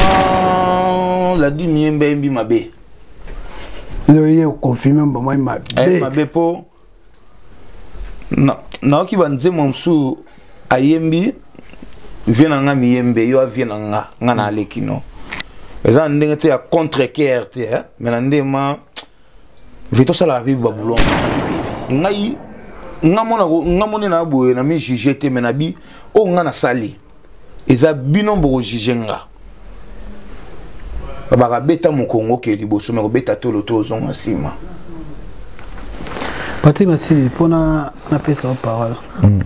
ah, la dune yemba yembi mabe loye okonfirme mbamai mabe eh, mabe mpo nayoki banzembo mosusu ayembi vie na nga miyembe yo avie na nga nga na aleki no eza na ndenge te ya contre care te eh? me na ndenge ma ve tosalaka mpe babulon ngai nga mona nga mona na boye na mi juge te mais na bi o oh, nga na sali eza bino boko juge nga baka beta mukongo ke liboso mais ko beta tolo to zonga sima Patrick Masili pona na pesa parole mm.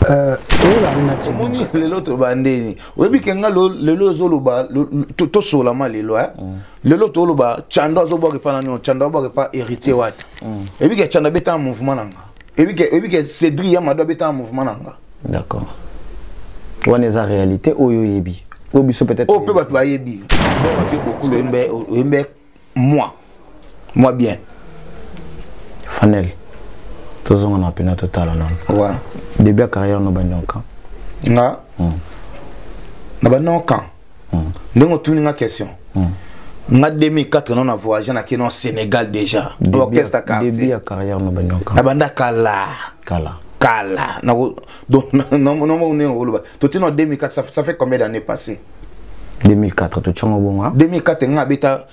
euh oyo na tshimba moni lelo to bandeni oyebi ke nga lelo ezoloba to sola ma lelo hein mm. lelo toloba chando azobwaka epa nani chando abwaka epa héritier wata mm. eyebi ke chando abetaka mouvement na nga eyebi ke cédri ya mado abetaka mouvement na nga d'accord wana eza réalité oyo oyebi oyo biso peut-être oyo mpe bato bayebi bafie bokulu oyembe moi moi bien fanel tozonga na pena totala nano début ya carrière no banionka nga hmm. na banionka ndenge otuni nga question nga 2004 non na voyage na kino sénégal déjà orchestre ya quartier ya carrière no banda kala na banda kala kala kala na donc non non non non to tino 2004 ça fait combien d'années passées 2004 to tshongo bonga 2004 nga beta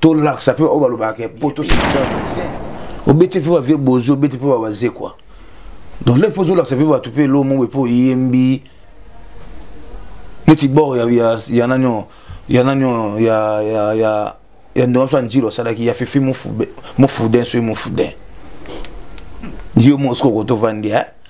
tolakisa mpe oyo balobaka ke mpo tosilisa vaccin obeti mpe bavie bozi obeti mpe babaze kua donc leki mpo ozolakisa mpe bato mpe elo moko mpe oyembi neti bor ya nani oyo ya nani oyo ya ya ya ya ndongo so anjilo asalaki ya fifi mofuden soki mofuden yo moko soki okotovandi eh?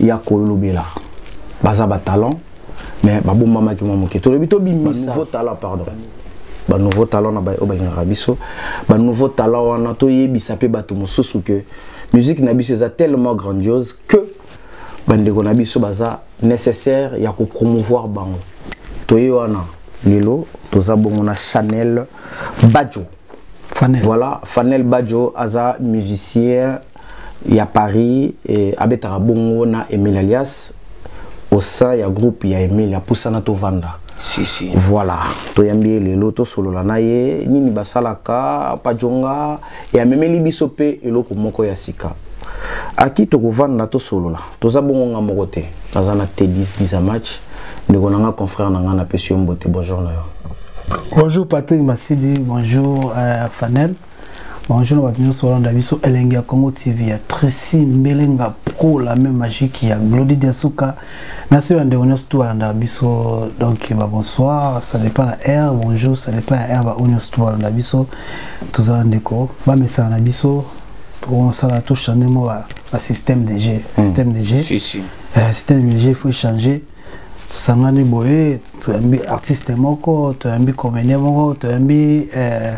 ya kolobela baza ba talent mais babombamaki mwa moke tolobi tobimisa nouveau talent pardon ba nouveau talent na baye oyo balingaka biso ba nouveau talent wana toyebisa mpe bato mosusu ke musique na biso eza tellement grandiose que bandeko na biso baza nécessaire ya kopromouvoir bango toye wana lelo toza bongo na chanel badjo Fanel. voilà fanel badjo aza musicien ya Paris eh, abetaka bongo na Emile Alias au sein ya groupe ya Emile apusana tovanda si, si. voilà toyambi ye lelo tosolola na ye nini basalaka pajonga e amemeli biso mpe eloko moko ya sika aki tokovanda tosolola toza bongo nga moko te naza na tedis disa match ndeko na nga confrère na nga napesi yo mbote bonjour na yo bonjour patrick masidi bonjour euh, fanel Bonjour na bato nyonso olanda biso elengi ya Congo TV ya Tracy Mbelenga Pro la même magique ya Glody Diasuka na se ba ndeko nyonso tout alanda biso donc ba bonsoir ça dépend la heure bonjour ça dépend la heure ba onyo tout alanda biso tozala ndeko ba mesana na biso tokosala to changer mo ba système de jeu hmm. système de jeu si, si. Euh, système de jeu faut changer tosangani boye toyambi artiste moko toyambi comédien moko toyambi eh,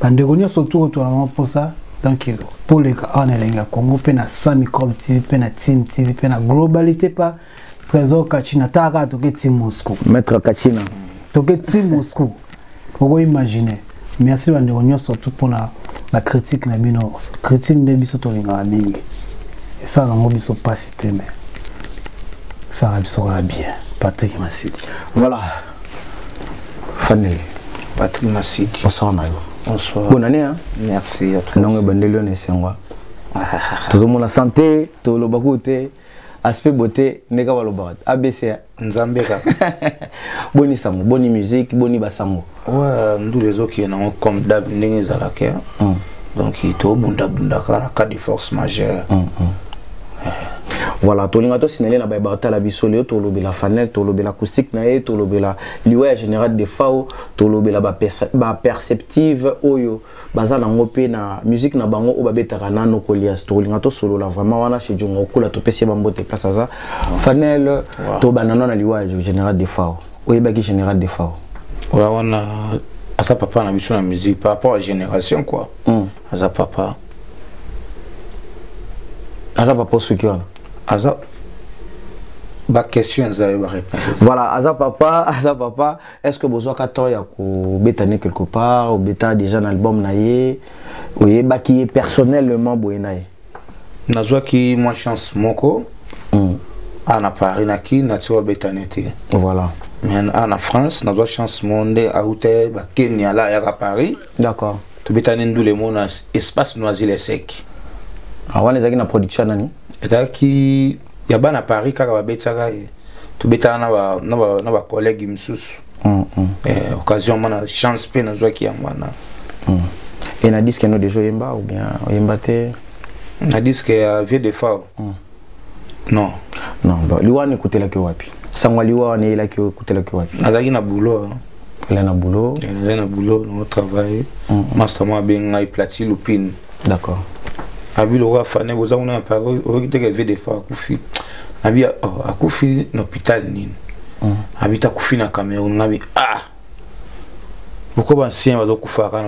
bandeko nyonso tour toyama mposa donc poleka awa na elengi ya congo mpe na sa microbe tv mpe na tine tv mpe na globalité pa trésor kachina taka toke ti moscou maître kachina toke ti moscou oko imagine merci bandeko nyonso tout mpona bacritique na bino critique nde biso tolingaka mingi esala yango biso mpasi te me esala biso kaka bien patrik masidi voilà faneli patrik masidi bonsoir na yo bonsoir bonne année hein? merci ntango ebandeli yo na esengwa tozomona sante toloba kutu te aspect beauté ndeka balobaka abc nzambe kaka boni sango boni musique boni basango wa ndule ezokende nango comme dab ndenge ezalaka eh. mm. donc tobundabundaka na cas de force majeure mm, mm. Eh. voilà tolinga tosinale na baye batala biso lelo tolobela fanel tolobela acoustique na ye tolobela liwa ya général de fao tolobela baperceptive oyo baza nango mpe na musique na bango oyo babetaka na nokolias tokolinga tosolola vraiment wana chez jonga okola topesi ye bambote place aza fanel tobanda no na liwa ya général defao oyebaki général defao oya wana aza papa na biso na musique par rapport à génération quoi mm. aza papa aza papa soki wana aza baquestion eza yo baréponse voilà aza papa aza papa Est-ce que bozo ka temps ya ko beta ne quelque part, au beta déjà un album na ye, oye ba qui est personnellement boye na ye. Na zo ki moi chance moko. Mm. Ah, na Paris na ki na tso beta ne te. Voilà. Mais ah, na France na zo chance monde à hôtel ba Kenya là ya Paris. d'accord tobetani ndule mo na espace noisy le sec ah, wana ezalaki na production nani ezalaki ya bana paris kaka babetaka ye tobetaka na bacollègue mosusu mm, mm. eh, occasion mana chance mpe nazwaki yango wana mm. e na diske no deja oyemba ou bien oyemba te na diske ya vieux de fao Hmm. Non. Non, ba liwa ne kutela ke wapi? Sangwa liwa ne ila ke kutela ke wapi? Azaki na boulot. Hein. Ila na boulot. Ila na boulot, no travail. Hmm. Master moi ben ngai plati lupine. D'accord. Abi lo wa fane boza kuna na Paris, oyoki te ke vie de fa akufi. Abi oh, akufi na hôpital nini? Hmm. Abi ta kufi na Cameroun ngabi ah boko bansien bazokufaka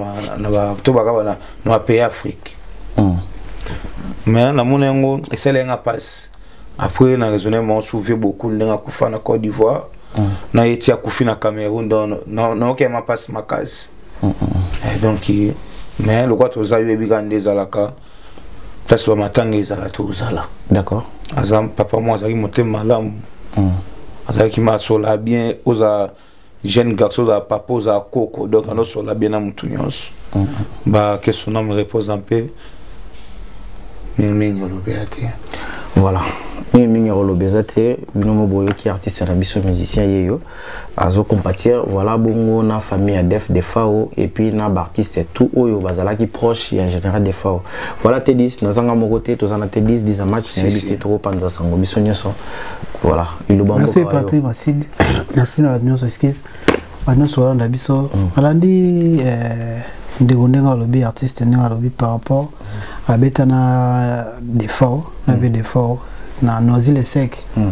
to baka bana na bapays afrique hmm. mais namona yango esala yanga mpasi après na raisonne mon souvieux beaucoup ndenge akufa na côte d'ivoire hmm. na ye ti akufi na cameroun donc naokema mpasi makasi hmm, eh, donc mais lokola toza yo yebi kaka nde ezalaka place bamatanga ezala tozala d'accord aza papa moko azalaki motema malamu azalaki masola bien oza jeune garçon ozala papa ozala koko donc anosola bien na motu nyonso ba que son âme repose en paix mingimingi olobi ya te voilà mingimingi akoloba eza te bino mo boyoki artiste na biso musicien ye yo azo compatir voilà bongo na famille ya def defao epuis na baartiste tout oyo bazalaki proche ya général defao voilà tedis nazanga moko te toza na tedis disa match nayebi te tokopanza sango biso nyonso voilà Iloba mboka. Merci Patrick Masidi. Merci na nyonso excuse. Ba nyonso olanda biso. Mm. Alandi eh ndeko ndenge alobi artiste ndenge alobi par rapport mm. abeta na defaut na be mm. defaut na noisy le sec. Mm.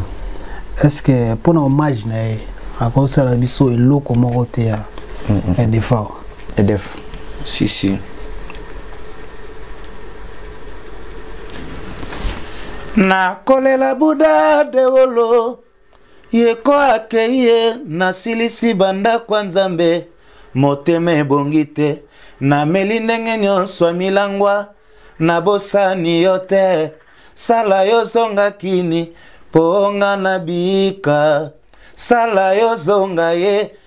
Est-ce que pour hommage na ye akosala biso eloko moko te ya mm -hmm. ya defaut edef si si nakolela buda dewolo yeko akei ye nasilisi bandako ya nzambe motema ebongi te nameli ndenge nyonso ya milangwa nabosani yo te sala yo zonga kini mpo nga na bika sala yo zonga ye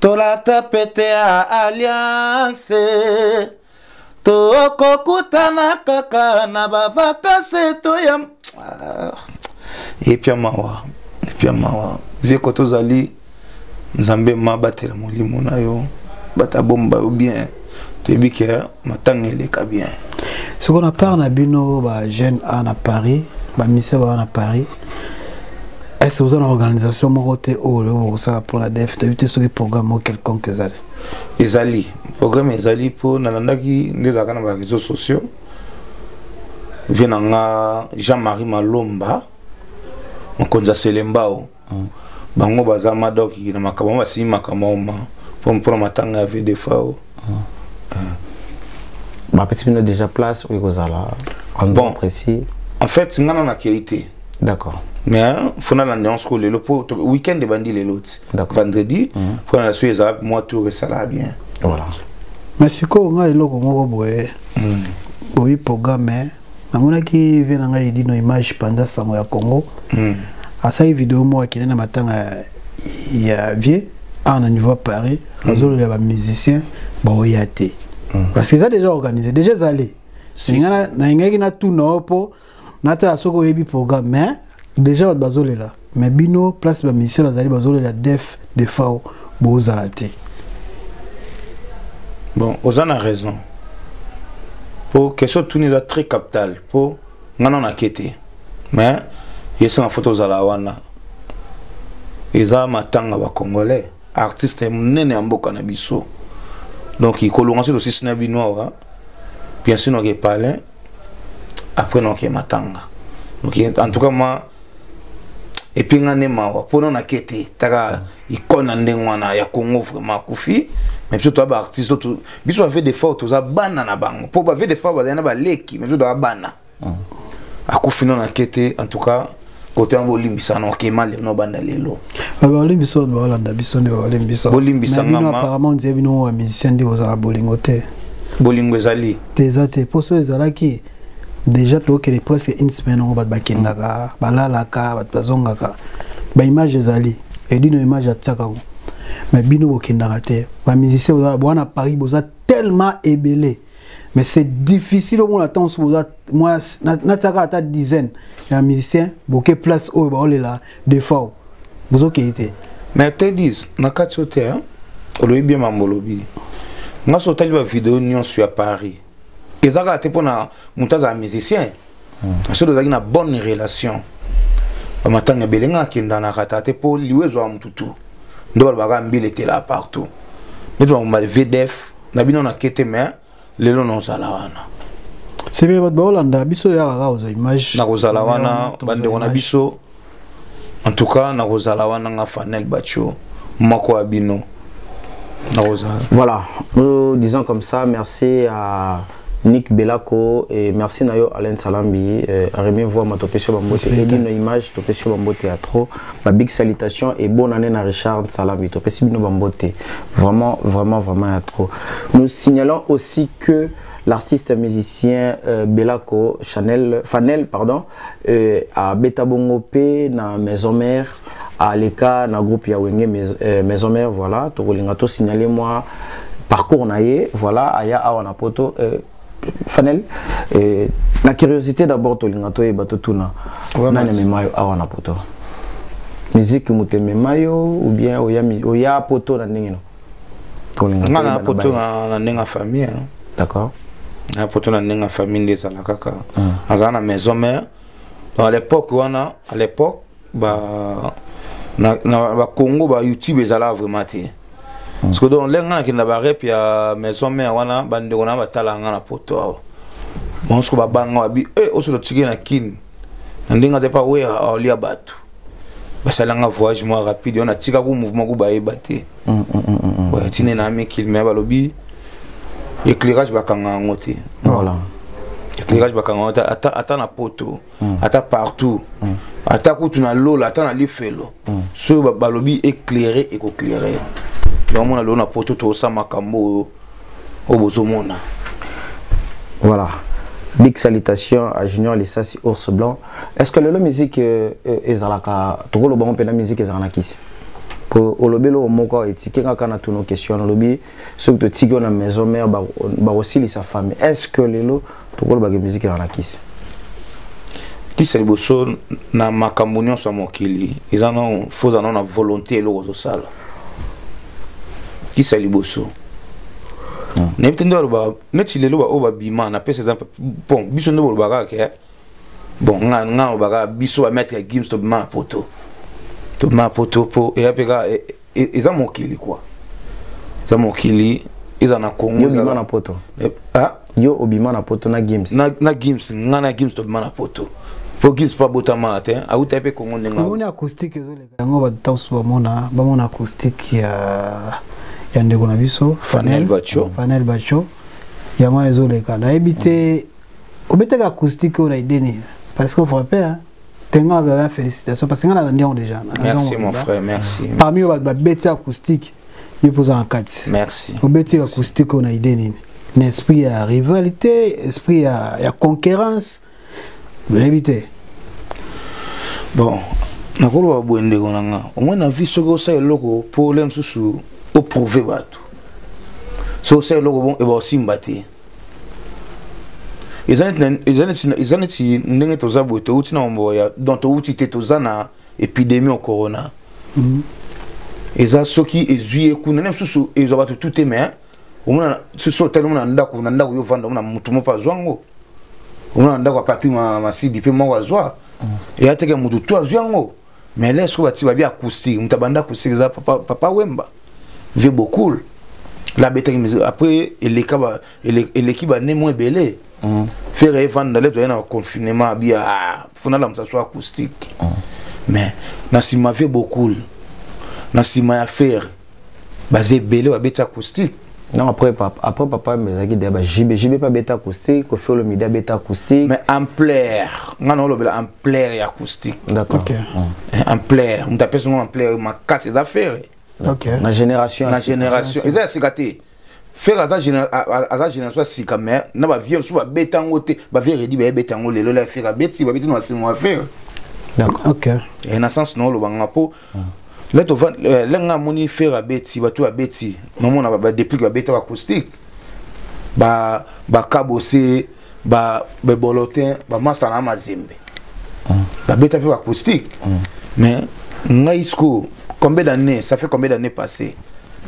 tolata pete ya alliance tokokutana kaka na bavakase toya ah, epya mawa epya mawa vieko tozali nzambe mabatela molimo na yo bato abomba yo bien toyebi ke matanga eleka bien soko na part na bino ba jeune a na paris bamisia baa na paris est ce oza na organisation moko te oyo oh, oloko kosala mpo na def toyebi te soki programme moko quelconque ezali ezali programme ezali mpo nalandaki nde ezalaka na bareseau sociaux vie na nga jean marie malomba mokonzi ya selembao bango baza madoki na makambo yango basimi makambo ma mpo na matanga ya vdfao bapesi bino déjà place oyo ekozala endroit précis en fait ngana nakei te d'accord mais fona na nuance ko lelo mpo week-end ebandi lelo ti vendredi fona na soki ezala mwa tour esalaka bien voilà mais sikoyo ngai eloko moko boye boyi programme namonaki vie na ngai edino image panza sango ya congo mm. asali video moko akende na matanga ya vie awa na niveau ya paris mm. azololela bamusicien baoya te mm. parce que eza déjà organisé déjà ezali nalingaki natuna yo mpo natala soki oyebi programme mais Deja bato bazolela me bino place ba musicien bazali bazolela def defao bozala te bon oza na raison po question tuni eza très capital po nga na nake te mais esanga fo tozala wana eza matanga bacongolais artiste monene ya mboka na biso donc ikolonga soki tosisi na bino awa piasu noke palin après noke matanga noke en tout cas ma epuis nga nde mawa mpo nona ke te taka ikone na ndenge wana ya congo vraiment akufi mais biso toza baartiste biso bave de fort toza bana na bango mpo bave de fort bazali na baleki mais biso toza bana mm. akufi no na kete en tout cas kote yango olimbisa na okema lelo na obanda lelo baolimbisa oyo baolanda biso nde baolimbisa bolimbisa ngama apparemment ondie bino wa musicien nde bozala bolingo te bolingo ezali te eza te mposo ezalaki déjà tokende presque une semaine yango bato bakendaka balalaka bato bazongaka baimage ezali edino image atiaka yango mais bino bokendaka te bamusicien bozala bwana paris boza tellement ebele mais c'est difficile au moins omona ntango soki oza mwa natiaka ata dizaine ya musicien boke place oyo baolela defao bozokei te mais te dis na kati oyo te olobi bien mambo olobi nga so otali bavideo nyonso ya paris eza kaka te mpo na moto azala musicien hmm. soki tozalaki na bonne relation bamatanga ebele nga akendanaka ata te mpo liwa ezwaka motu tu nde balobaka mbila ekelaa partout neti bamomali vdf na bino na kete mais lelo naozala wana sebe bato baolanda biso yaka kaka oza image nakozala wana bandeko na biso en tout cas nakozala wana nga fanel bacho moko ya bino nakozala voilà euh, disant comme ça merci à Nick Belako et merci nayo Alain Salambi euh, Rémi voix ma topé sur bambote et dit nos images topé sur bambote à trop ma big salutation et bonne année à Richard Salambi topé sur bino bambote vraiment vraiment vraiment à trop nous signalons aussi que l'artiste musicien euh, Belako Chanel Fanel pardon euh, abeta bongo pe na maison mère aleka na groupe ya wenge maison, euh, maison mère voilà tokolinga to signaler moi parcours na ye voilà aya awa na poto euh, fanel euh, na curiosité d'abord tolinga toyeba totuna nani amema yo awa na poto miziki moto emema yo ou bien oya, oya poto na ndenge no nga na poto na ndenge ya famille hein. d'accord na poto na ndenge ya famille nde ezala kaka hmm. azala na maison mère à l'époque wana à l'époque ba na, na ba Congo ba YouTube ezala vraiment te hmm. parce que donc lenga na kinda ba rep ya maison mère wana ba ndeko na batala nga na poto awa banso ba banga bi eh oso tiki na kin na ndenge azepa wera aolia bato basalanga voyage mwa rapide wana atikaku mouvement ku bayeba te mm, mm, mm, tine na amikili me balobi éclairage bakanga yango te éclairage bakanga yango te ata na poto ata partout ata kutu na lola ata na lifelo soki balobi éclaire ekoclaire yango mona lelo na poto tosa makambo oyo oyo bozomona voilà big salutation à junior lisasi ours blanc est ce que lelo musique euh, euh, ezalaka tokoloba ngo mpe na musique ezalaka na kisi po olobeli oyo moko etike kaka na tuno question olobi soki totiki yo na maison mare bakosilisa famille est ce que lelo tokolobaka musique ezalaka na kisi kisa liboso na makambo nyonso ya mokili eza nano foza nano na volonté eloko ozosala kisa liboso hmm. nayebi te nde balobaka neti lelo baoyo babima napesa eza bon biso nde bolobaka kaka bon nga nga obaka biso ba maître ya Gims to ma poto to ma poto po e apeka e, e, eza mokili quoi eza mokili eza na Congo yo bima na poto eh, ah yo obima na poto na Gims na na Gims nga na Gims to bima na poto po Gims pa botama te auta pe Congo ndenga omoni acoustique ezo leka yango ba tausu ba mona ba mona acoustique ya ya ndeko na biso Fanel Bacho Fanel Bacho yango ezoleka nayebi te obetaka acoustique oyo na idée nini parce que ofrappe hein? tenga na félicitation parce que nga nalandi yango déjà merci mon frère merci parmi oyo bato babeti acoustique yo mpo oza na kati merci obeti acoustique oyo na idée nini na esprit ya rivalité esprit ya, ya concurrence oyebi te bon nakoloba boye ndeko na nga omoi na vie soki osala eloko mpo ole mosusu oprouve bato soki osala eloko bon eba osimba te eza neti ndenge toza boye touti na mambo ya donc touti te toza na epidemie ya corona mhm. eza soki ezwi ye kuna na mosusu ezwa bato tu te mais omona soki otali omona ndako na ndako yo vanda omona motu moko azwa yango omona ndako ya patrik masidi mpe moko azwa mhm. eya teke motu tu azwi yango mais là soki batie babi acoustique moto abanda acoustique eza papa, papa wemba vie bokul la abetaki musique après eleka ba, ele, eleki bane mo ebele mm. fere evanda le toye na confinement abi ah, fona lamusa so acoustique mm. mais na nsima vie bokul na nsima ya fere baza ebele babeti acoustique non après papa après papa mezaki de ba JB JB pas beta acoustique ko felo mida beta acoustique mais ampleur nga no lobela ampleur ya acoustique d'accord okay. mm. ampleur mutapesa ngo ampleur makasi eza ferre okay. na génération na génération eza ya sika te Ferre aza aza génération sika mais na ba vieux sous ba betango te ba vieux redi ba betango lelo la Ferre beti ba beti na simo wa Ferre d'accord OK et na sens no lo banga po ah. là to va euh, lenga moni Ferre beti ba to beti maman na ba depuis ba beta acoustique ba ba kabose ba bebolotin bamasta na mazembe mm. babeta mpe bacoustique mm. mais ngai siko combien d'année ça fait combien d'année passé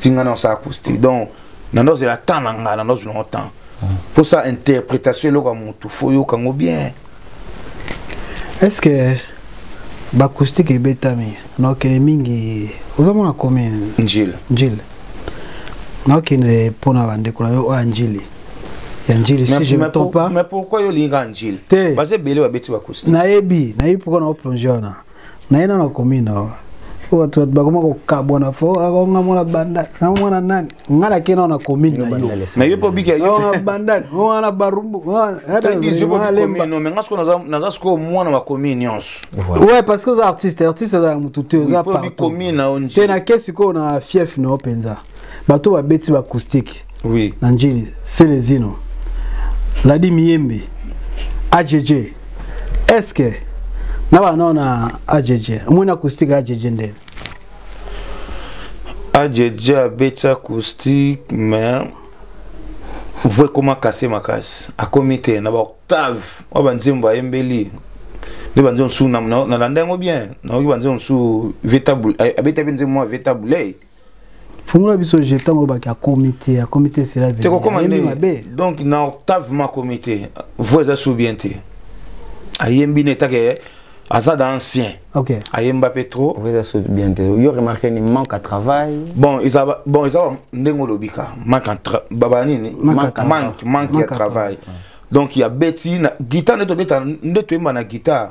tinga na osala acoustique donc nando ozela temps na ngai nando ozwi nango temps mpo sa interprétation eloko ya motu fo oyoka yango bien est ce que bacoustique ebetami naokende mingi ozomona commune njile njile naokende mpo na bandeko na yo oyo ya njili ya njili si je ne tombe pas mais pourquoi yo olingi kaka njili te baza ebele babeti bakusti nayebi nayebi pourquoi na oplonge wana naye nano akomi no bato bato bakoma kokabwana fo akonga mwana bandal na mwana nani ngai nake nao na commune na yo na yo mpe obika na bandal wana barumbu naza sikoyo mwana wa commune nyonso ouais parce que oza artiste artiste azalaka motu te oza partout te nake sikoyo na fief na yo mpenza bato babeti baacoustique oui. na njili selezino ladi miyembe ajeje eske na bana nao na ajeje omoni acoustique ya ajeje ndene ajeje abeti acoustique mais vo ekoma kase makasi akomi te na baoctave oyo banzembo ayembeli nde banze mosusu nalanda yango bien nayoki banze mosusu abeta mpe nzembo mwa veta bouley fungola biso je ntango olobaki ya komite ya komite esila tekokoma ndenge mabe donc na octave ma komite voi eza su bien te ayembi ne etake aza da ancien okay. ayemba mpe trop voi eza su bien te yo remarke ni manque à travail bon eza bon eza ndenge olobi ka manque baba nini manque manque ya travail donc ya beti guitare nde tobeta nde toyemba na guitare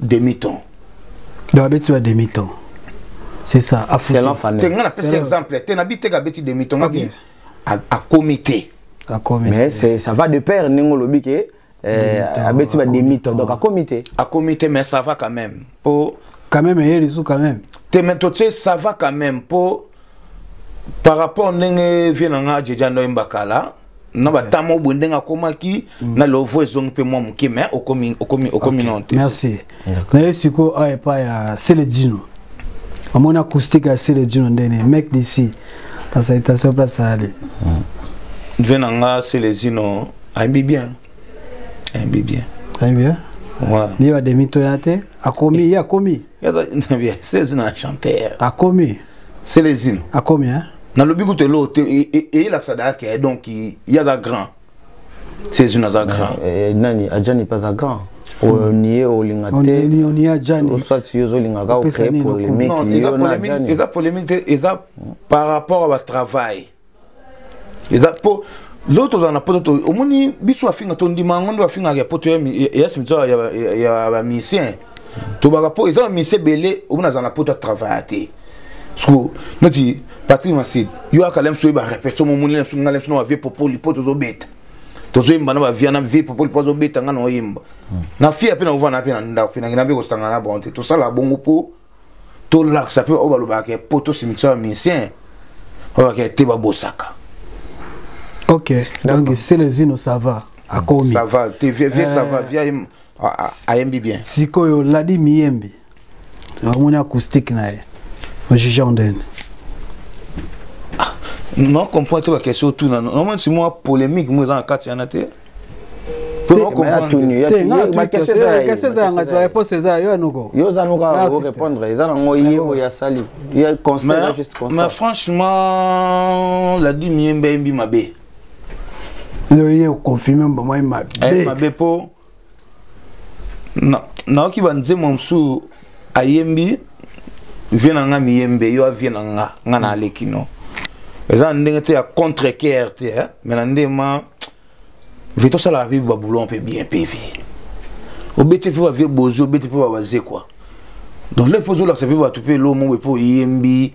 demi temps donc abeti ba demi temps c'est ça selon famille te nga napesi exemple te nabi teke abeti demi temps ngabi akomi te mais ça va de paire ndenge olobi ke eh, abeti ba demi temps donc akomi te akomi te mais ça va quand même po quand même eye lisu quand même te mais totie ça va quand même po par rapport ndenge vie na nga jeja ndoyemba kala na batama obwe ndenge akomaki mm. na lovo ezongi mpe mwa moke mai okomi nao te merci naye sikoyo awa epai ya seledino amoni acoustique ya seledino ndene mek d'ici la salutation place ali ve na nga seledino ayebi bien ayebi bien ayebi bien ye bademi toya te akomi ye akomi seledino na chanteur akomi Celezino. Akomi hein. Na lobi kutu elo te eyelakisa da yake donc yaza grand. Celezino aza grand. Eh, eh, nani ajani pas aza grand. oniye olinga te oswati yo ozolinga ka ocree polémique yo na ajani. Eza polémique te eza par rapport à ba travail. eza mpo lelo tozala na poto omoni biso afinga tondima yango nde afingaka ya poto ya simitiare ya bamisien tobaka mpo eza bamisi ebele oyo nazala na poto atravaya te siko neti patrik masidi yo akala mso oyeba repetition momoni na biso ngai na biso na bavie popoli mpo tozobeta tozoyemba na bavia na vie popoli mpo azobeta ngai na oyemba hmm. na fia mpe na ovanda mpe na ndako mpe nakenda mpe kosangana na bango te tosala bongo mpo tolakisa mpe oyo balobaka ke mpo tosimbisa ba musicien oyaka te babosaka ok donc selezino ça va akomi ça va te vie vie ça va vie ayembi bien sikoyo ladi miyembi omoni acoustique na ye ojuge ondene non comprend te bakestion otuna nomoni si mwa polémique mo eza na kati yana te mais franchement la dime ye mbe yembi mabe yo ye okonfirme mbamai mabe eh, mabe mpo nayoki banzembo mosusu ayembi vie na nga miyembe yo avie na nga nga na aleki no eza na ndenge te ya contre care te eh? mais na ndenge ma ve tosalaka mpe baboulon mpe bien mpe ve obeti mpe bavie bozi obeti mpe babaze kua donc leki mpo ozolakisa mpe bato mpe elo moko mpe oyembi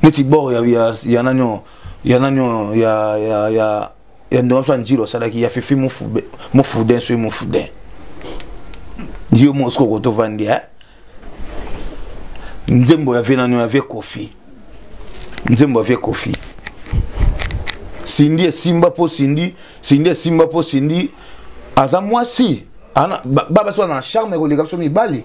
neti bor ya, ya, ya nani oyo ya nani oyo ya, ya, ya, ya ndongo so ya njilo asalaki ya fifi mofuden soki mofuden yo mosiko kotovandi eh? nzembo ya vie nano ya vie kofi nzembo ya vie kofi sindi esimba mpo sindi sindi esimba mpo sindi aza mwasi babasi wana na charme ekoleka biso mibali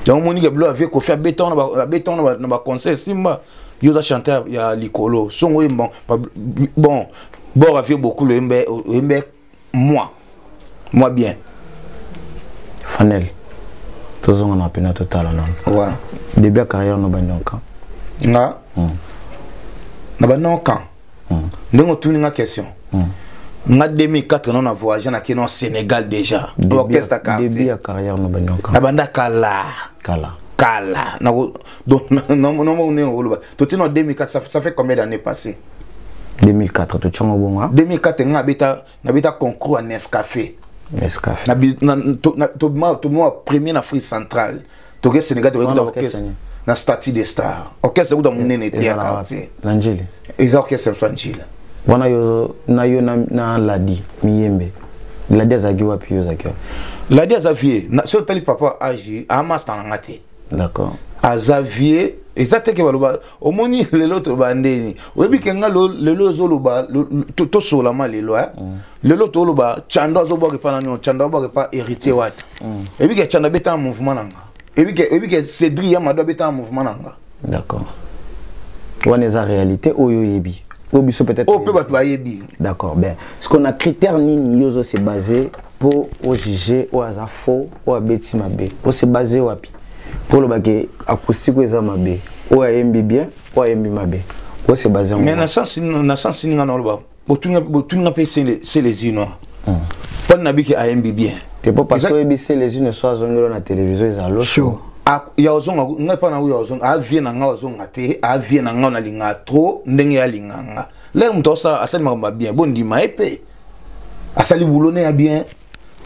yango omoni ke bilo ya vie kofi abeta wana na baconseil esimba yo oza chanteur ya likolo songo oyemba bon bor ya vie bokulu oyemba moi moi bien fanel tozonga na pena totala nano ouais. début ya carrière no bandi okan nga mm. na bandi okan mm. ndenge otuni nga question mm. nga 2004 no na voyage na kino sénégal déjà orchestre quartier ya carrière no bandi okan na banda kala kala kala donc nomoni oloba toti na 2004 ça, ça fait combien d'années passé 2004 totiango bongo 2004 nga nabeta nabeta concours ya nescafe nescafe tobima premier na afrique centrale toke sénégal tokekuta orchestre na statut de star orchestre ekuta monene te ya quartier na njili eza orchestre mosu ya njili wana yo na yo na ladi miyembe ladi azalaki wapi yo ozalaki wapi ladi aza vie soki otali papa age amasta na nga te d'accord aza vieux eza te ke baloba omoni lelo toloba ndeni oyebi ke nga lelo ezoloba tosolama lelo eh? mm. lelo toloba chando azobwaka epa nani chando abwaka epa héritier wati mm. oyebi ke chando abetaka mouvement na nga oyebi ke cédri ya mado abetaka mouvement na nga d'accord wana eza réalité oyo oyebi oyo biso peut-être oyo mpe bato bayebi d'accord bien ce qu'on a critère nini yo ozo se baser mpo ojuge oyo aza faux oyo abeti mabe ose base wapi mpo oloba ke acoustique oyo eza mabe oyo ayembi bien oyo ayembi mabe ose base yango mais na sensi ninga na oloba botuninga mpe selezino hmm. mpo nabiki ayembi bien te mpo parce que oyebi selezino so azongelo na télévision eza losho ya ozonga ngai mpa nango ya ozonga avie na ngai ozonga te avie na ngai nalinga trop ndenge yalinga nga leke moto asali makambo ya bien bondima ye mpe asali boulot ne ya bien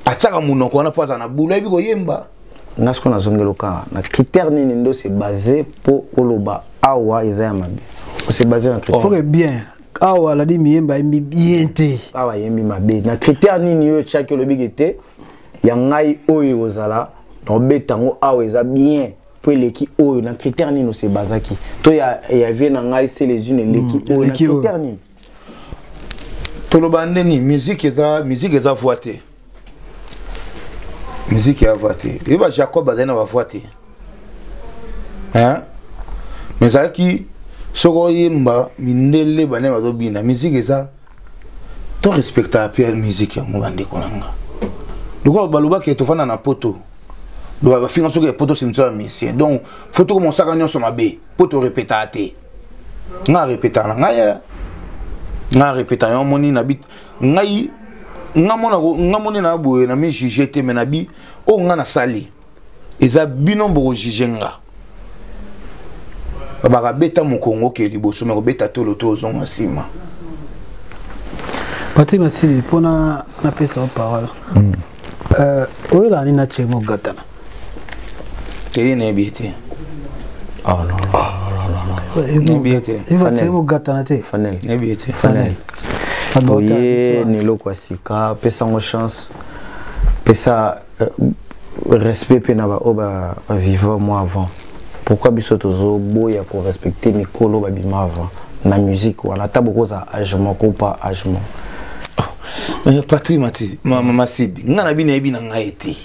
atiaka monoko wana mpo aza na boulot ayebi koyemba nga sikoyo nazongeli okanga na critère nini nde ose base mpo oloba awa eza ya mabe ose base na critère okay, bien awa aladi miyemba ayembi bien te awa ayembi mabe na critère nini yo otyaki olobi ke te ya ngai oyo ekozala na obeta yango awa eza bien mpo eleki oyo na critère nini ose bazaki to ya, ya vie na ngai se les une eleki mm, oyo na critère nini toloba nde nini musique eza musique eza voix te musique ya voix te ye ba jacob azali na bavoix te hein mais ezalaki soki oyemba mindele bane bazobina musique eza to respecta mpe musique yango bandeko na nga lokola balobaki tofanda na poto bafinga soki ya poto simisa ya musicien donc fo tokomosaka nyonso mabe mpo torepetaka te nga repeta na ngai eh. nga repeta yo moni na bit ngai nga mona nga moni na boye na mi juger te mais na bi o nga na sali eza bino boko juger nga babaka beta mokongo ke liboso me kobeta tolo to ozonga nsima patri masili mpona napesa yo parole hmm. euh, oyelaka nini na chemo gatana teye nayebi ye te nayebi ye te bogatana te fanel nayebi ye te fanel oye na eloko ya sika pesa yango chance pesa euh, respect mpe na baoyo baviva mwa avant pourquoi biso tozoboya korespecte mikolo babima avant na musique wana ata bokozala age moko pa age moko oh, patri mati masidi ngai na bino nayebi na ngai te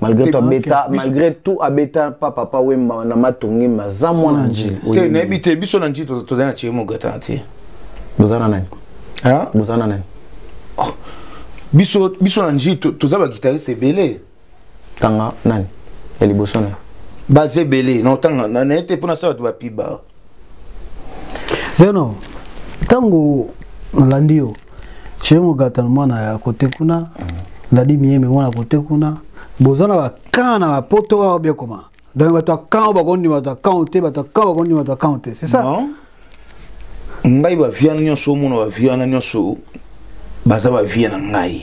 malgré tout abeta malgré tout abeta pa papa wemba na matongi maza mwana njili te nayebi te biso na njili tozali na thierry mogata te boza na nani boza na nani oh. biso biso na njili toza baguitariste ebele tanga nani ya liboso na yo baza ebele na otanga naye te mpo nasala bato bapiba zeno ntango nalandi yo chez mogata na mwana ya kote kuna nalandi miyembe mwana kote kuna boza na bakan na bapoto awa biekoma donc bato ya kan bakondima bato ya kan te bato ya kan bakondima bato ya kan te c'est ça non ngai bavie wana nyonso omona bavie wana nyonso baza bavie na ngai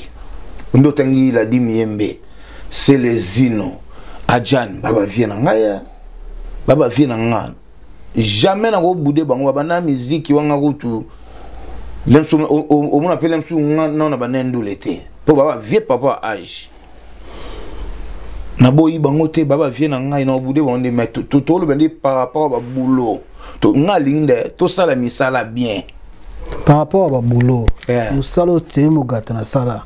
nde otangi ladi miyembe selezino ajane babavie na ngai ba ba vie na nga jamais na ko boude bango ba na musique wanga kutu lemsu au moins appelle lemsu nga na na bana ndule te po ba ba vie papa âge na boyi bango te ba ba vie na nga na boude bango mais to to le bende par rapport ba boulot to nga linde to sala misala bien par rapport ba boulot yeah. musalo tie mugata na sala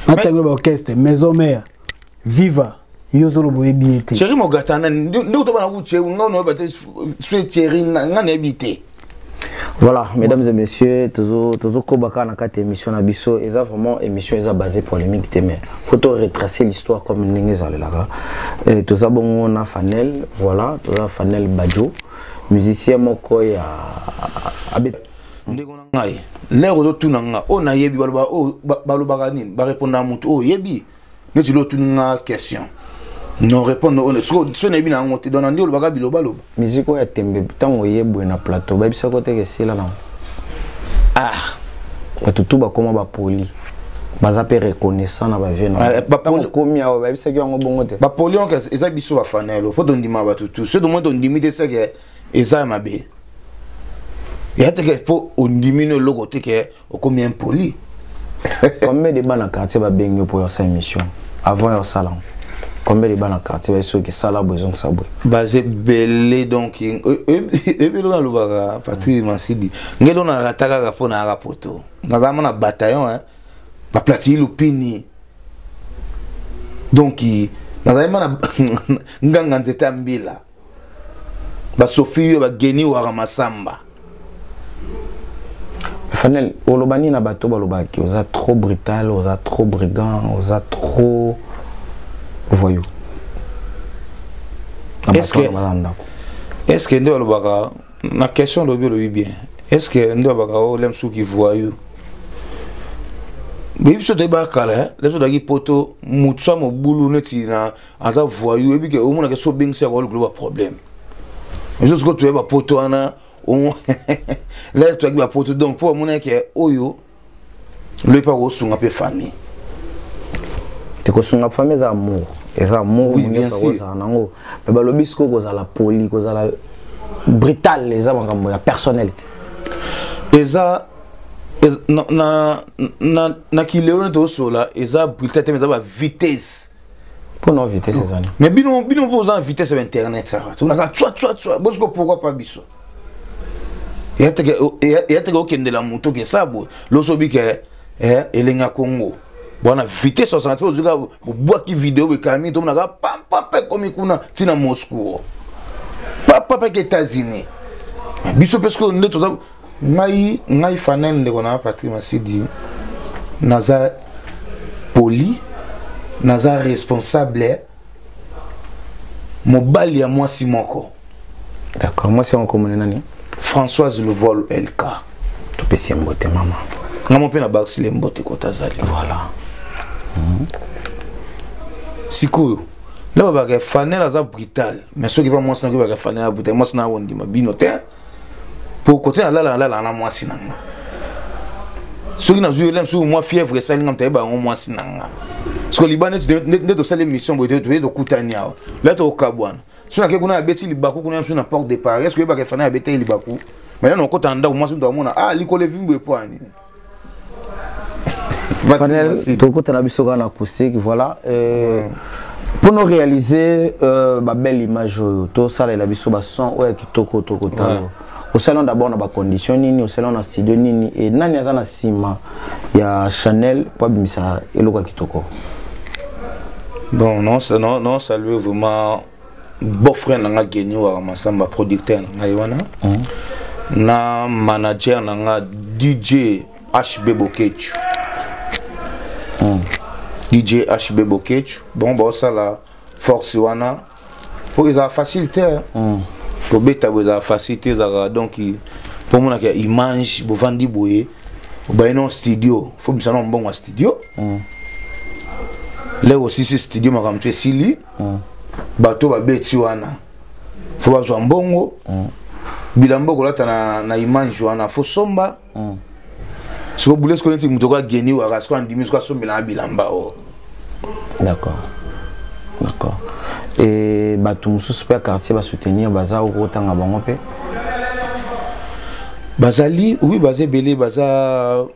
na tango ba orchestre maison mère viva yo ozoloba oyebi ye te chéri mogata nani nde otobana ku chéri nga onoyeba te sue chéri nga nayebi te voilà mesdames et messieurs tozokoba kaka na kati ya émission na biso eza vraiment émission eza basé polémique te mais faut to retracer l'histoire comme ndenge ezalelaka toza bongo na fanel voilà toza fanel badjo musicien moko ya abeta ndeko na ngai lere ozotuna nga oyo nayebi balobaka nini barepondaka motu oyo oyebi neti lo otuni nga question non répondre oyo soki nayebi na yango te dona nde olobaka bilobaloba miziki oyo ya tembe ntango oye boye na plateau bayebisaki oteke esila nango ah bato tu bakoma bapoli baza mpe reconnaissant na bavie naokomi ah, awa bayebisaki yango bongo te bapoli yango eza biso bafanelo mpo tondima bato tu soki tomoni tondimi te seke eza ya mabe ya teke mpo ondimi no eloko te ke okomi impoli combien de bana quartier babengi yo mpo yosala émission avant yosala combien de bana quartier baye soki sala boye ezongisa boye baza ebele donc e, e, ebele oyo alobaka patrik masidi ngeli oyo narata kaka mpo nayaka poto nazalama na bataillon baplatili lupini donc nazalaki mana nganga nzete ya mbila basofi yo bageni wara masamba fanel oloba nini na bato balobaki oza trop brutal oza trop brigand oza trop voyou est ce que nde balobaka na question olobi olobi bien est ce que nde balobaka o oh, lem suki voyou biso toyebaka kala eh? lem so tozalaki poto motu sa mobulu neti na aza voyou oyebi ke omonaka so obengisi yango likolo ba problème biso sikoyo toye bapoto wana lere toyaki bapoto donc mpo amonaki ke oyo loyebi mpe akosunga mpe famille te kosunga famille eza amour eza amour ozala nango me balobi sikoyo kozala poli kozala brutal eza makambo ya personnel eza na, na, na, na kilelo nete osola eza brutal te eza bavitesse mpo na vitesse ezali mais bino bino mpo oza na vitesse ya internet saka tolaka tswa tswa tswa bosiko pourkoi pas biso eyateke okendela moto oke sa boye loso obike eh, eh, elenga kongo bwana vitesse osanga ti ozwika bobwaki video boekalami tomonaka pampampe ekomi kuna ntina moscou pampampe ke états-unis biso mpe soki nde toza ngai ngai fanel ndeko na patrik masidi naza poli naza responsable mobali ya mwasi moko d'accord mwasi yango komona nani françoise levol lk topesi ye mbote mama ngamo mpe na bakisile mbote kota azali voilà mhm. sikoyo nde babaka fanel aza brutal mais soki pa mwasi nakoki baka fanel ya brutal mwasi na akondima bino te po kote nalala nalalaka na mwasi na nga soki nazwi elem soki mwa fièvre esali nga motayeba yango mwasi na nga soko libanda nde tosali émission boye toye tokutani awa la tokokabwana so nake kuna abeti libaku kuna biso na porte de paris eske oyebaka efana abetaki libaku maintenant nakota ndako mwasi moto amona ah likolo evimbo epoani Fanel, tokutana biso kaka na acoustique voilà euh, mm. mpo no réaliser euh, babelle image oyo tosalela biso bason oyo ya kitoko tokotala ouais. osalana d'abord na bacondition nini osalana na studio nini e nani aza na nsima ya chanel mpo abimisa eloko ya kitoko bon non, non, non saluer vraiment beau frère na nga geni waka masamba producteur na ngai wana mm. na manager na nga dj hb bokechu mm. dj hb bokechu bon baosala force wana mpo ezala facile te mm. kobeta bo ezala facile te ezalaka donc mpo omonaka image bovandi boye obaye no studio fo misana mbongo ya studio mm. leo osisi studio makambo to esili mm. bato babeti wana fo bazwa mbongo mm. bilamba okolata na, na image wana fo somba mm. soko bule soko neti moto okoya geni waka soko andimi soko asombelanga bilamba o oh. d'accord d'accord e bato mosusu mpe ya quartier basoutenir baza okotanga bango mpe bazali oui baza ebele baza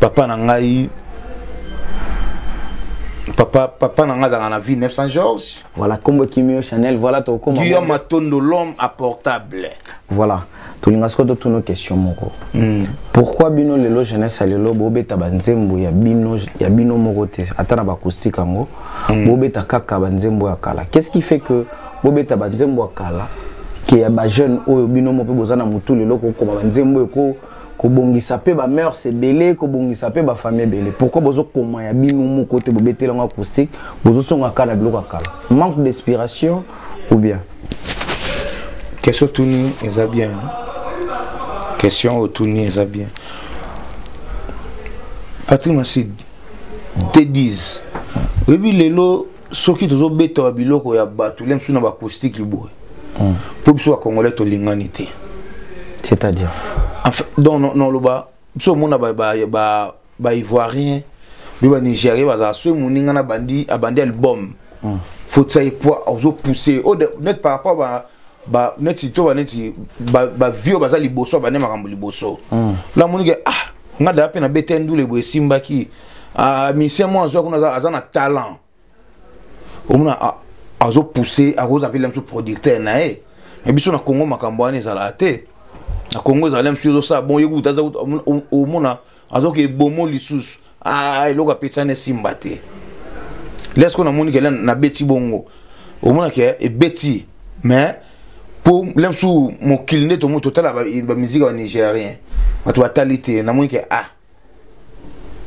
papa na ngai papa papa nanga azalaka na vie 900 georges voilà kombo kimio chanel voilà tokoma guillaume matondo l'homme à portable voilà tolinga soko totuna question moko mm. pourquoi bino lelo jeunesse ya lelo bobeta banzembo ya bino ya bino moko te ata na bacoustique yango mm. bobeta kaka banzembo ya kala qu'est ce qui fait que bobeta banzembo ya kala ke ya bajeune oyo bino mo mpe boza na motu lelo kokoma banzembo eko kobongisa mpe ba mœurs ebele kobongisa mpe ba famille ebele pourquoi bozokoma ya bino moko te bobeteli yango acoustique bozosonga kaka na biloko ya kala manque d'inspiration ou bien question otuni eza bien question otuni eza bien patrick masidi te dise oyebi lelo soki tozobeta ba biloko ya bato lia mosusu na bacoustique boye hmm. mpo biso bacongolais tolingani te c'est-à-dire enfin, donc noloba biso omona baivoirien mpe banigérien bazala soki moninga na bandi abandi album hmm. fotisa ye po ozopousse oh, net par rapport ba ba neti to ba neti ba ba vio baza liboso ba ne makambo liboso hmm. la monique ah nga da pe na bete ndule bo esimbaki ah, musicien moko azwa kuna aza na talent omona ah, azopousse akozala mpe lemsu producteur na ye me biso na congo makambo wana ezalaka te na congo ezala lemsu ezosala bon ye kuta omona azoka ebomo lisusu ah, eloko apesana esimba te lesko namoni kele nabeti bongo omona ke ebeti mais mpo lemsu mokili nde tomo totala bamiziki ya banigérien bato batali te namoni ke ah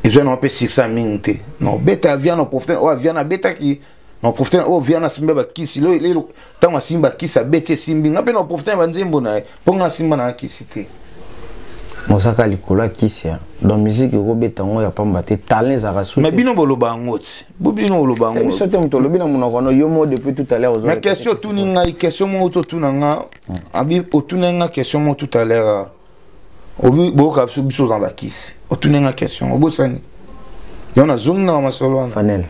eza na mpe succès ya mingi te na obeta ya viana oprofite oyo aviana abetaki na oprofite oyo viana asimbi bakisi lelo ntango asimbi bakisi abeti esimbi nga mpe na oprofite ya banzembo na ye mpo nga asimba na kisi te mozaka likolo ya kisi donc miziki okobeta yango ya pamba te talent ezalaka su mais bino boloba yango ti bino boloba yango biso te moto olobi na monoko no yo moko depuis tout à l'heure ozona question otuni ngai question moko totuna nga hmm. abi otuna nga question moko tout à l'heure obi boyoka biso biso oza bakisi otuni nga question obosani yo nazongi na masolo wana fanel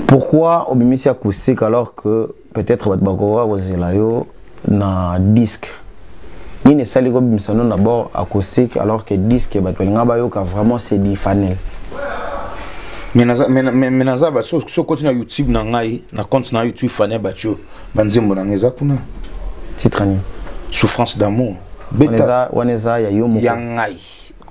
pourquoi obimisi acoustique alors que peut-être bato bakokoka kozela yo na disque nini esali kobimisa no d'abord acoustique alors que disque bato balinga bayoka vraiment c'est du fanel mais naza baso soki okoti na youtube na ngai na compte na youtube fanel batio ba nzembo na nga eza kuna titre nini souffrance d'amour beta wana eza ya yo moko ya ngai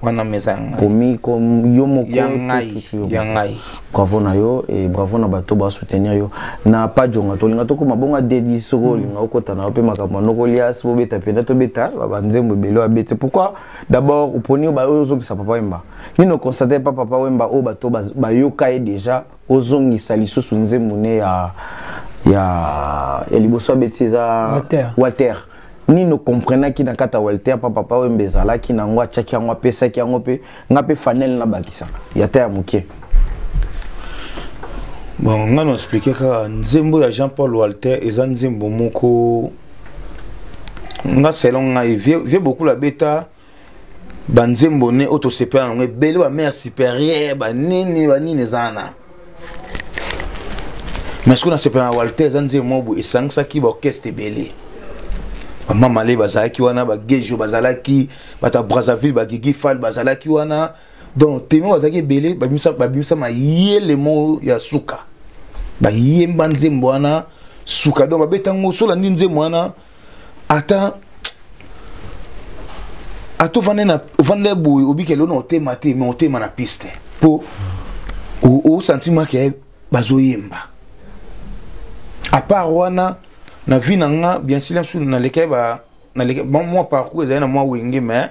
wana meza ya ngai komi komi yo moko ya ngai ya ngai bravo na yo et bravo na bato ba soutenir yo na pas jonga to linga to ko mabonga dedi soko mm. linga okota na pe makambo noko lias bo beta penda to beta ba nzembo belo abete pourquoi d'abord oponi ba oyo zokisa papa wemba nino constater pas papa wemba o bato ba yoka ye déjà ozongisa lisusu nzembo ne ya ya ya liboso abeti eza Walter. walter nini okomprenaki na kati ya walter mpa papa wembe ezalaki na yango atyaki yango apesaki yango mpe nga mpe fanel nabakisa ya ta ya moke bon nga na explike kaka nzembo ya jean paul walter eza nzembo moko nga selon ngai vie, vie bokula beta banzembo ne oyo tosepela nango ebele ba mare supérieure banini banini eza wana mais soki nasepela na walter eza nzembo moko boye esangisaki baorchestre ebele bamamale bazalaki wana bagejo bazalaki bato ya brazzaville bagigi fal bazalaki wana donc teme bazalaki ebele babimisa mayele moko ya suka bayemba nzembo wana suka donc babeta yango solandi nzembo wana ata ata ovanda na ovanda boye obikela ona otema te mais otema na piste mpo osantima ke bazoyemba apart wana na vie na nga bien sila mosusu nalekaki ba nalekaki mwa parcours ezali na mwa wenge mais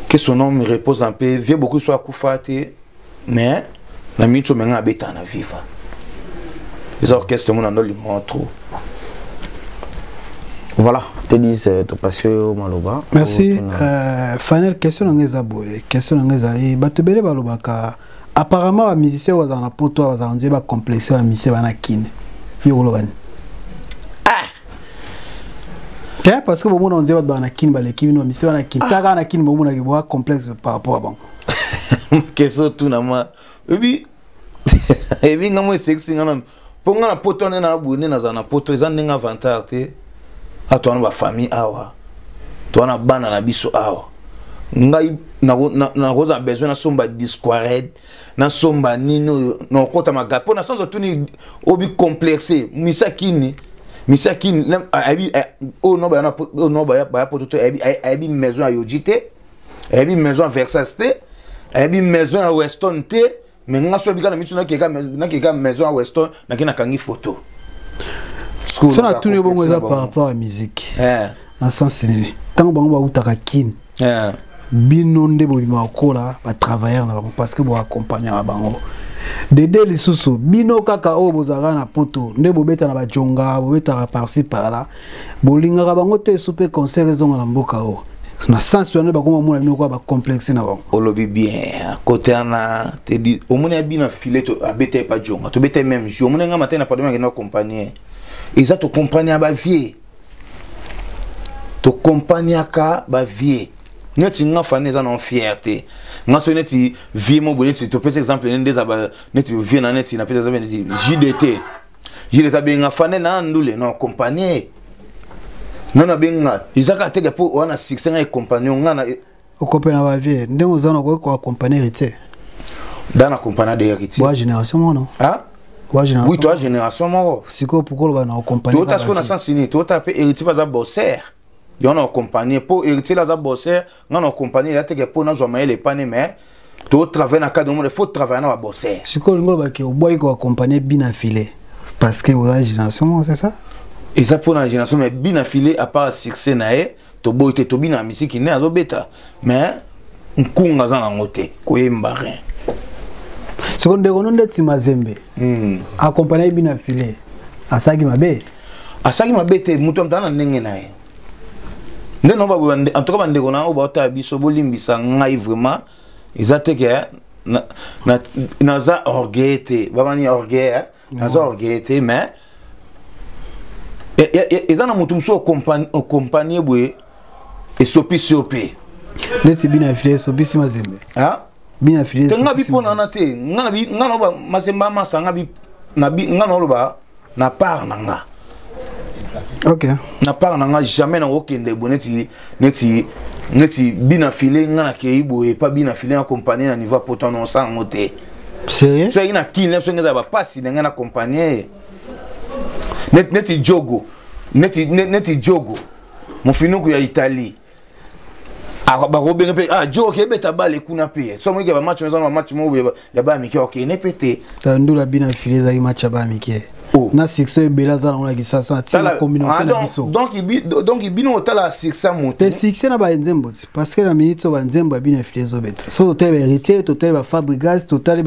que son homme repose en paix vieux beaucoup soit akufa te mais na minute oyo menga abeta na viva eza orchestre mona ndo limwa trop voilà telise euh, topasi oyo maloba merci euh, final question na ngai eza boye question na ngai ezali bato ebele balobaka apparemment ba musicien oyo bazala na poto oyo bazala nzela bacomplexe ya musicien bana kine yo koloba nini ah! te parce que bomona nzela bato bana na kine baleki bino bamisien bana kine ah! kaka na kine bomonaki boa complexe par rapport ya bango keso tuna ma oyebi ebi nga mo esexi nga nanu mpo ngai na poto wana na boye nde nazala na poto eza ndenge avantage te ato wana bafamille awa to wana bana na biso awa ngai nakozala besoin nasomba disquared nasomba nini oyo nakokota magape mpo na sanza otuni obi complexe misakini misakini ayebi eh, oyo no baya poto te ayebi maison ya yoji te ayebi maison ya versace te ayebi maison ya weston te mais nga soki bika na misu nakeka nakeka maison ya weston nake nakangi photo so natuni yo bongo eza par rapport ya miziki eh. na sens nini ntango bango bautaka kine eh. bino nde bobima kokola batravailleur na bango parce que boaccompagnaka bango dede lisusu bino kaka oyo bozalaka na poto nde bobeta na bajonga bobetaka parci par là bolingaka bango te esu mpe concert ezonga na mboka oyo na sens wana bakoma omona bino kwa bacomplexe na bango olobi bien kote wana tedi omoni ya bino afile abeta epa jonga tobeta meme jour omoni nga matai na padome akenda accompagne eza tocompagne ya bavie tocompagnaka bavie neti nga fani eza na fiere te nga soki neti vie mo boye neti topesa exemple nde eza neti vie na neti napesa exemple neti jdt jile kabenga fane na ndule no compagnie nga na benga eza kaka teke mpo wana succès nga ecompagnon nga na okope na bavie ndenge oza na koki koaccompagne héritier da na compagna de héritier bwa génération mono ah? oui toa génération moko sikoyo pourkoi oloba na ocompagne toyota sikoyo na sens nini toyota mpe héritier baza bosser yango na ocompagne mpo héritier la aza bosser nga na compagnie ya teke po nazwa mayele epane mais to travailler na cadre monde faut travailler na ba bosser sikoyo lingo baki obwaki ko accompagner bina filet parce que oza génération moko c'est ça eza mpo na génération mais bina filet à part succès na ye toboyi te tobina ya misiki nde azobeta mais nkunga aza nango te koyemba rien soko ndeko no ndeti mazembe hmm. accompagne bina filet asalaki mabe asalaki mabe te moto amtana na ndenge na ye nde no baboye en tout cas bandeko na yango baotala biso bolimbisa ngai vraiment eza te ke naza orgueil te bamani orgueil eh? naza orgueil te mais eza na moto mosusu okompanie boye esopisi yo mpe neti bina vile esopisi mazembe bien affilié te nga bi pona na te nga na bi nga na ba masemba masa nga bi na bi nga na loba na part na nga ok na part na nga jamais na okende bo neti neti neti bina file nga na kei boye pa bina file na compagnie na niveau poto na osanga ngo te sérieux soki na kini na songi eza bapasi na ngai na compagnie neti, neti jogo neti, neti jogo mofinuku ya italie Ah, bakobenga mpe ah jo okebeta bale kuna mpe so moyike bamatch oyo eza na bamatch moko ya baya mike okende mpe te ndula bina file ezalaki match ya baya mike oh. na succès ebele aza nango na kisasa ntina communauté ah, na biso donc bino otala succès moto te succès na banzembo ti parce que na minute oyo banzembo ya bino efile ezobeta so totali ba héritier totali ba fabrigas totali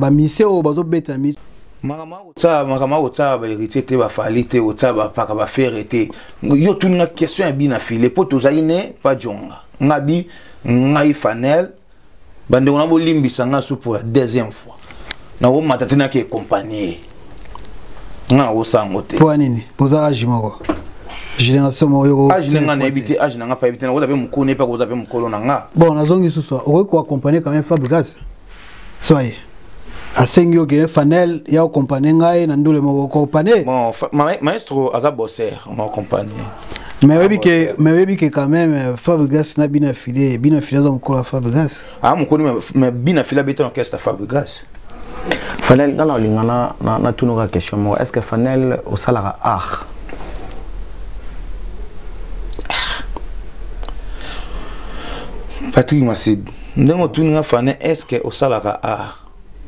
bamisie oyo bazobeta na minute makambo akotsala makambo akotsala baheritier te bafali te kotsala bapaka bafere te yo tuni nga question ya bi na file mpo tozalaki ne bajonga nga bi ngai fanel bandeko na bolimbisa nga su pour la deuxième fois nakomata te nake ecompagnie nga nakosango te mpo nini boza age moko génération moko yo age na nga nayebi te age na nga payebi te nakoza mpe mokolo nayebi mpe akoza mpe mokolo na nga bon nazongi susu okoki koaccompagne quand même fabrigas soye asengi yo kende fanel ya okompane ngai na ndule moko okompane bon, ma, maestro aza bosser na okompane mais oyebi ke mais oyebi ke quand même euh, fabrigas na bina file bina file aza mokolo ya fabrigas ah mokolo mais bina file abeta na orchestre ya fabrigas fanel nga nalinga natunuka question moko est ce que fanel osalaka art Patrick Massid. ndenge otuni nga fane estce osalaka art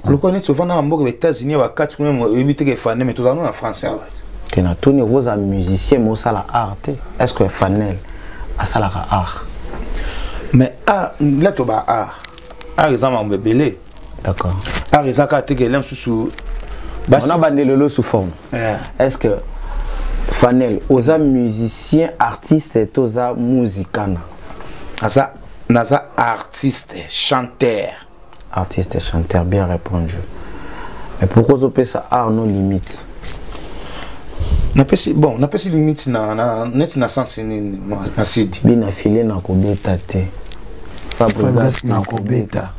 lokola neti ovanda na mboka baétats-unis bakati kuna oyebi teke fane me tozala no na france awa te natuni okozala musicien me osala art te est-ce que fanel asalaka art mais art la toba art art eza mambo ebele d'accord art eza kaka teke ele mosusu ona bande lelo sous forme yeah. est ce que fanel oza musicien artiste toza muzikana aza naza artiste chanteur artiste chanteur bien répondu mais pourquoi ozopesa art no limite napesi bon napesi limite na, na neti na sens nini na sidi bina file nakobeta te fabrigas nakobeta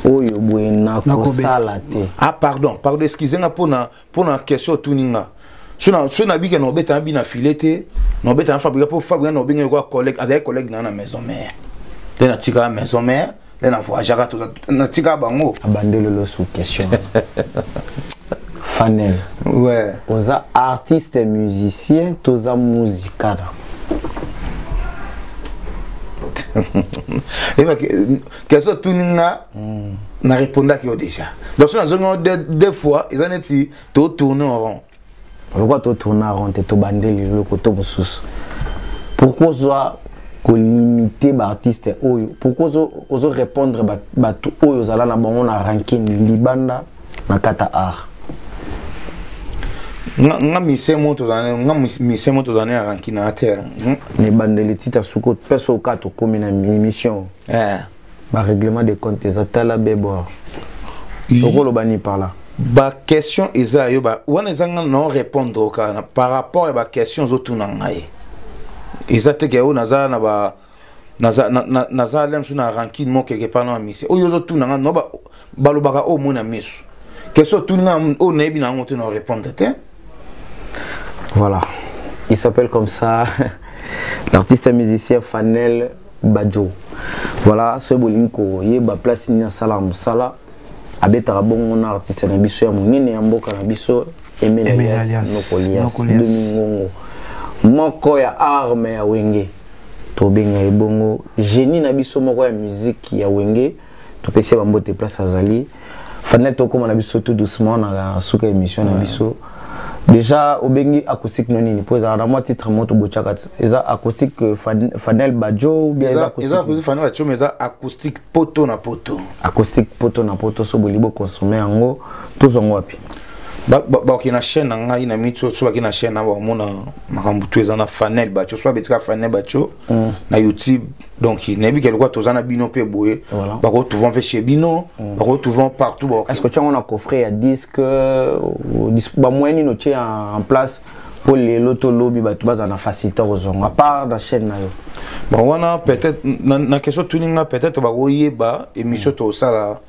oyo boye nakosala te ah pardon pardon excuse nga mpona mpo na question otuni nga so nabike na obeta nabi na file te na obeta na fabrika mpo fabrika na obenge lokola collègue azalaki collègue na na maison mère nde natikaka maison mère nde na voyageaka natikaka bango abandelelo sous question fanel ouais. oza artiste musicien toza musicana kezo otuni nga mm. na répondaki yo déjà donc so nazongi yo deux fois eza neti totourne en rond pourquoi totourne en rond te tobandeli eloko to mosusu pourquoi ozwa kolimite baartiste oyo pourquoi ozo répondre bato oyo ozala na bango na rankine libanda na kata art nga mise mo tozana nga mise mo tozana ya rankina te ne bandeli tita suko peso ka to komi na émission eh. ba règlement de compte eza tala beboa okoloba ni par là ba question eza yo ba wana eza nga non répondre okana par rapport ya ba question ozotuna ngai eza te ke oyo naza na ba naza na, na, naza lem so na rancune mo quelque part na misi oyo ozotuna nga no ba balobaka oyo omona miso question otuni nga oyo nayebi na yango te na orépondre te voilà il s'appelle comme ça l'artiste musicien fanel badjo voilà soki bolingi koyeba place nini asalaka mosala abetaka bongo na artiste na biso ya monene ya mboka na biso emel alias nokolias domingongo moko ya arme ya wenge tobenga ye bongo génie na biso moko ya miziki ya wenge topesi ye bambote place azali fanel tokóma na biso tout doucement na suka émission na biso déjà obengi acoustique no nini mpo ezalaka na mwa titre moto botyaka eza acoustique euh, fanel bajo eza fanel bajo mais eza acoustique poto na poto acoustique poto na poto so bolingi boconsomme yango tozwa yango wapi baoki na chaîne na ngai na miti so baki na chaîne na baomona makambo tu eza na fanel baco so babetika fanel baco mm. na youtube donc nayebi ke lokola toza na bino mpe boye voilà. bakotrouva mpe chez bino mm. bakotrouva partout ba... est ce que otya yango na coffret ya disque euh, bamoyen nini otye en place mpo lelo to lobi bato bazala na facilité kozonga à part na chaîne na yo bon wana peut-être na, na question tuninga peut-être bakoyeba émission mm. tosala mm.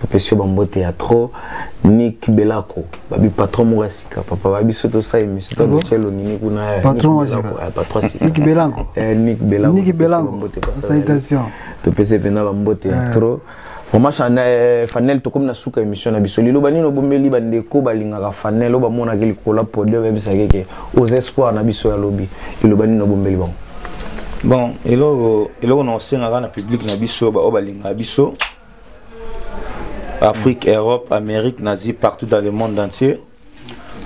bapesi yo bambote ya trop nik belako babi patron moko ya sika papa babi so tosala émission to dotya elongi ni kuna nik belako nik belako topesi mpenza bambote ya trop vraiment fanel tokomi na suka émission na biso liloba nini obombeli bandeko balingaka fanel oyo bamonaki likolo ya podium oyebisaki ke aux espoirs na biso ya lobi liloba nini obombeli bango bon eloko eloko na osengaka na public na biso baoyo balingaka biso afrique europe amérique nazi partout dans le monde entier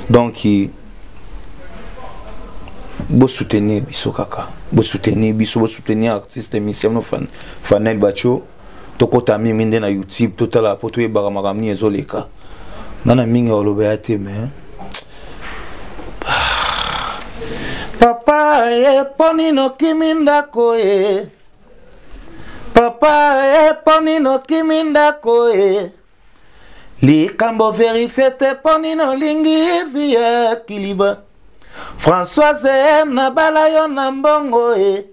donc bosoutenir biso kaka bosoutenir biso bosoutenir artiste émission no fanel bacho fan, tokota mingi nde na youtube totala mpo toyebaka makambo nini ezoleka nga na mingi oloba ya te me papa ye mpo nini okimi ndako ye papa ye mpo nini okimi ndako ye likambo verifie te mpo nini olingi vi ya kiliba françoise nabala yo na mbongo ye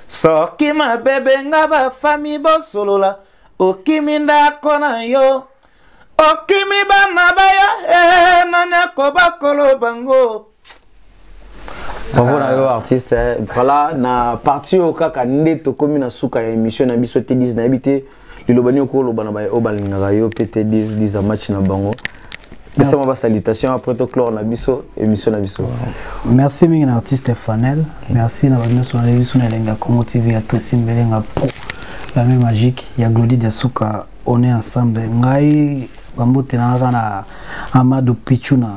soki mabebe nga bafami bosolola okimi ndako na yo okimi bana bayo eh, nani akoba koloba ngo bravo na yo artiste eh. voilà na parti oyo kaka nde tokomi na suka ya émission na biso te 10 nayebi te liloba nini okoloba na baye oyo balingaka yo mpe te diza match na bango pesama basalutation après toclore na biso émission na biso merci mingi na artiste fanel merci na bato nyonso na biso na elengi ya congo tv ya tresi mbelenga pro la main magique ya glodi diasuka on est ensemble ngai bambote na kaka na amado pichuna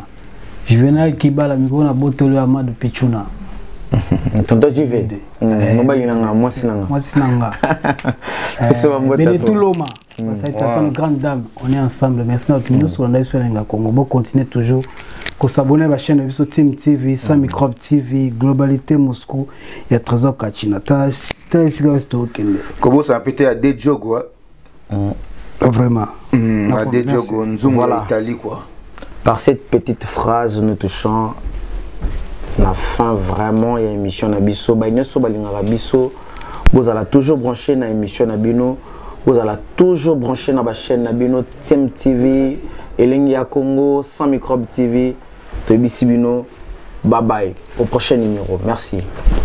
Juvenal Kibala mikolo na botolo ya Amadou Pichuna. tonton jive mm, eh. mobali na nga mwasi na nga mwasi na nga eh, benetuloma mm. salutation de grande dame on est ensemble merci na bato nyonso olanda biso elenga congo bocontinue toujours kosabone na bachaine na biso team tv sans mm. microbe tv globalité moscou ya trésor kachina ta esika basi tokokende kobosana mpe te ya de jogo Vraiment. Mm, na de Diogo Nzungu voilà. Italie quoi. Par cette petite phrase nous touchons la fin vraiment il y a émission na biso ba nyoso balingaka biso vous allez toujours brancher na émission na bino vous allez toujours brancher na ba chaîne na bino Tim TV Elengi ya Congo sans microbe TV toyebisi bino bye bye au prochain numéro merci